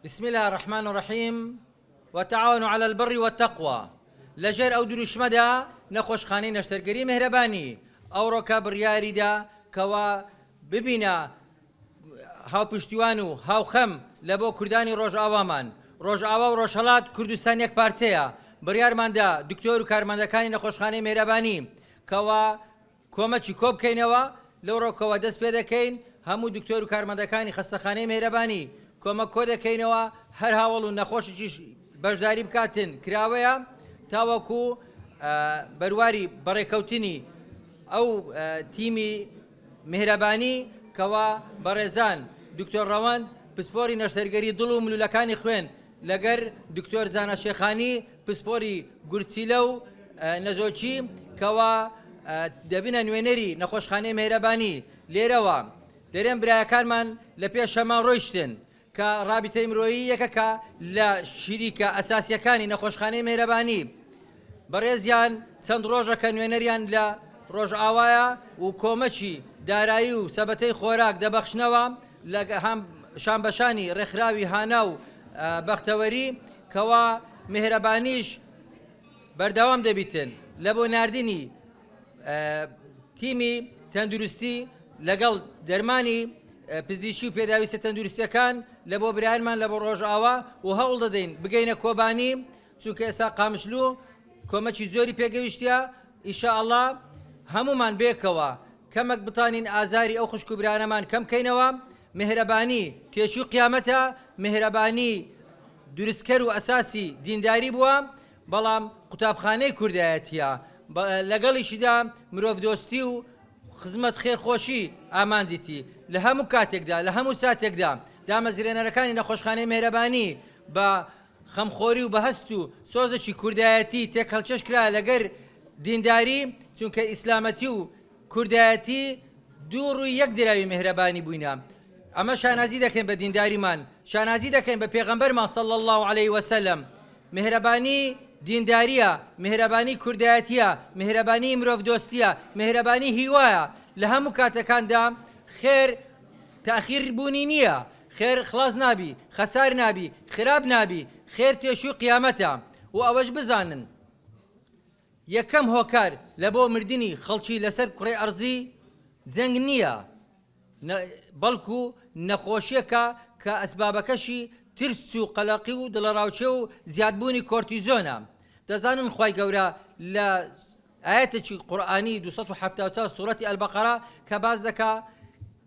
بسم اللە الرحمن الرحیم وتعاونوا علی البر والتقوی لە ژێر ئەو دروشمەدا نەخۆشخانەی نەشتەرگەری مهرەبانی ئەوڕۆکە بڕیاریدا کەوا ببینە هاوپشتیوان و هاوخەم لە بۆ کوردانی ڕۆژئاوامان ڕۆژئاوا و ڕۆژهەڵات کوردستان یەک پارچەیە بڕیارماندا دکتۆر و کارمەندەکانی نەخۆشخانەی مێرەبانی کەوا کۆمەکی کۆبکەینەوە، لەو ڕۆکەوە دەست پێدەکەین، هەموو دکتۆر و کارمەندەکانی خەستەخانەی مێهرەبانی کۆمەک کۆدەکەینەوە، هەر هاوەڵ و نەخۆشێکیش بەشداری بکاتن کراوەیە، تاوەکو بەرواری بەڕێکەوتنی ئەو تیمی مێهرەبانی کەوا بەڕێزان دکتۆر ڕەوەند پسپۆری نەشتەرگەری دڵ و ملولەکانی خوێن لەگەر دکتۆر زانا شێخانی پسپۆری گورچیلە و نەزۆکی کەوا دەبنە نوێنەری نەخۆشخانەی مێهرەبانی لێرەوە دەرێن برایەکانمان لە پێشەمە ڕۆیشتن کە ڕابیتەی مرۆیی یەکەکە لە شیریکە ئەساسیەکانی نەخۆشخانەی مێرەبانی بەڕێزیان چەند ڕۆژەکە نوێنەریان لە ڕۆژئاوایە و کۆمەکی دارایی و سەبەتەی خۆراک دەبەخشنەوە لە هەم شانبەشانی ڕێکخراوی هانا و بەختەوەری کەوا میهرەبانیش بەردەوام دەبیتن لە بۆ ناردنی تیمی تەندروستی لەگەڵ دەرمانی پزیشی و پێداویستە تەندروستیەکان لە بۆ برایانمان لە بۆ ڕۆژئاوا و هەوڵ دەدەین بگەینە کۆبانی چونکە ئێستا قامشلو کۆمەکی زۆری پێ گەیشتیە ان شاء اللە هەموومان بێکەوە کەمەک بتانین ئازاری ئەو خوشکو برانەمان کەم کەینەوە میهرەبانی تێچوی قیامەتە میهرەبانی دروستکەر و ئەساسی دینداری بووە بەڵام قوتابخانەی کوردایەتیە لەگەڵیشیدا مرۆڤ دۆستی و خزمەت خێرخۆشی ئامانجیتی لە هەموو کاتێکدا لە هەموو ساتێکدا دامەزرێنەرەکانی نەخۆشخانەی مێرەبانی بە خەمخۆری و بەهەست و سۆزەکی کوردایەتی تێکهەڵکێش کرا لەگەر دینداری، چونکە ئیسلامەتی و کوردایەتی دوو ڕووی یەک دراوی میهرەبانی بووینە. ئەمە شانازی دەکەین بە دینداریمان، شانازی دەکەین بە پێغەمبەرمان صلی اللە علیە وسلم. میهرەبانی دینداریە، میهرەبانی کوردایەتیە، میهرەبانی مرۆڤدۆستیە، میهرەبانی هیوایە، لە هەموو کاتەکاندا خێر تاخیر بوونی نیە، خێر خڵاس نابی خەسار نابی خراپ نابی خێر تێشوی قیامەتە و ئەوەش بزانن یەکەم هۆکار لە بۆ مردنی خەڵکی لەسەر کوڕی ئەرزی جەنگ نییە بەڵکو نەخۆشیەکە کە ئەسبابەکەشی ترس و قەلەقی و دڵەڕاوچێ و زیادبوونی کۆرتیزۆنە دەزانن خی گەورە لە ئاەتێکی قورآانی 1970 سوورەتی ئەلبقەرە کە باز دەکا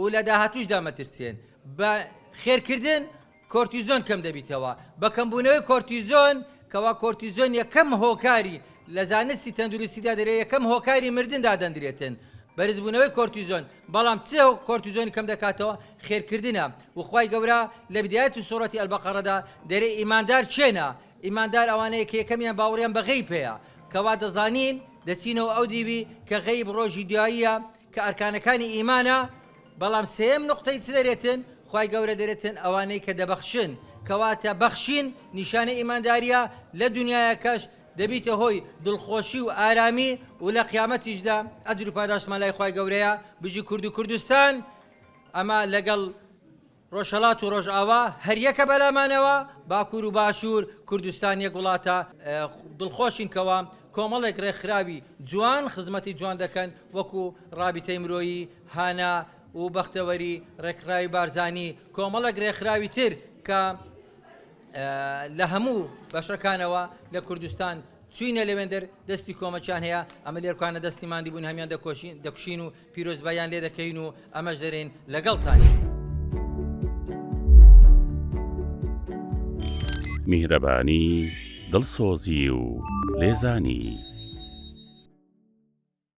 و لە داهاتووشدا مەترسێن. بە خێرکردن کۆرتیزۆن کەم دەبیتەوە. بە کەمبوونەوەی کۆرتیزۆن، کەوا کۆرتیزۆن یەکەم هۆکاری، لە زانستی تەندروستیدا دەرێ یەکەم هۆکاری مردن دادەندرێتن. بەرزبوونەوەی کۆرتیزۆن. بەڵام چ کۆرتیزۆنی کەم دەکاتەوە؟ خێرکردنە. و خوای گەورە لە بدایەتی سورەتی البقرەدا دەرێ ئیماندار کێنە؟ ئیماندار ئەوانەیە کە یەکەمیان باوەڕیان بە غەیب هەیە. کەوا دەزانین، دەچینەوە ئەو دیوی، کە غەیب ڕۆژی دواییە، کە ئەرکانەکانی ئیمانە، بەڵام سێیەم نوقتەی چ دەرێتن؟ خوای گەورە دەرێتن ئەوانەی کە دەبەخشن، کەواتە بەخشین نیشانەی ئیمانداریە لە دونیایەکەش دەبیتە هۆی دڵخۆشی و ئارامی و لە قیامەتیشدا ئەجرو پاداشتمان لای خوای گەورەیە، بژی کوردو کوردستان ئەمە لەگەڵ. ڕۆژهەڵات و ڕۆژئاوا هەریەکە بەلامانەوە، باکوور و باشوور، کوردستان یەک وڵاتە، دڵخۆشین کەوا کۆمەڵێک ڕێکخراوی جوان خزمەتی جوان دەکەن وەکو ڕابیتەی مرۆیی، هانا و بەختەوەری، ڕێکخراوی بارزانی، کۆمەڵێک ڕێکخراوی تر کە لە هەموو بەشەکانەوە لە کوردستان چووینە لەوێندەر دەستی کۆمەکیان هەیە، ئەمە لێرکانە دەستی ماندی بوون هەمیان دەکوشین و پیرۆزباییان لێ دەکەین و ئەمەش دەرێین لەگەڵتانین. میهرەبانی، دڵسۆزی و لێزانی.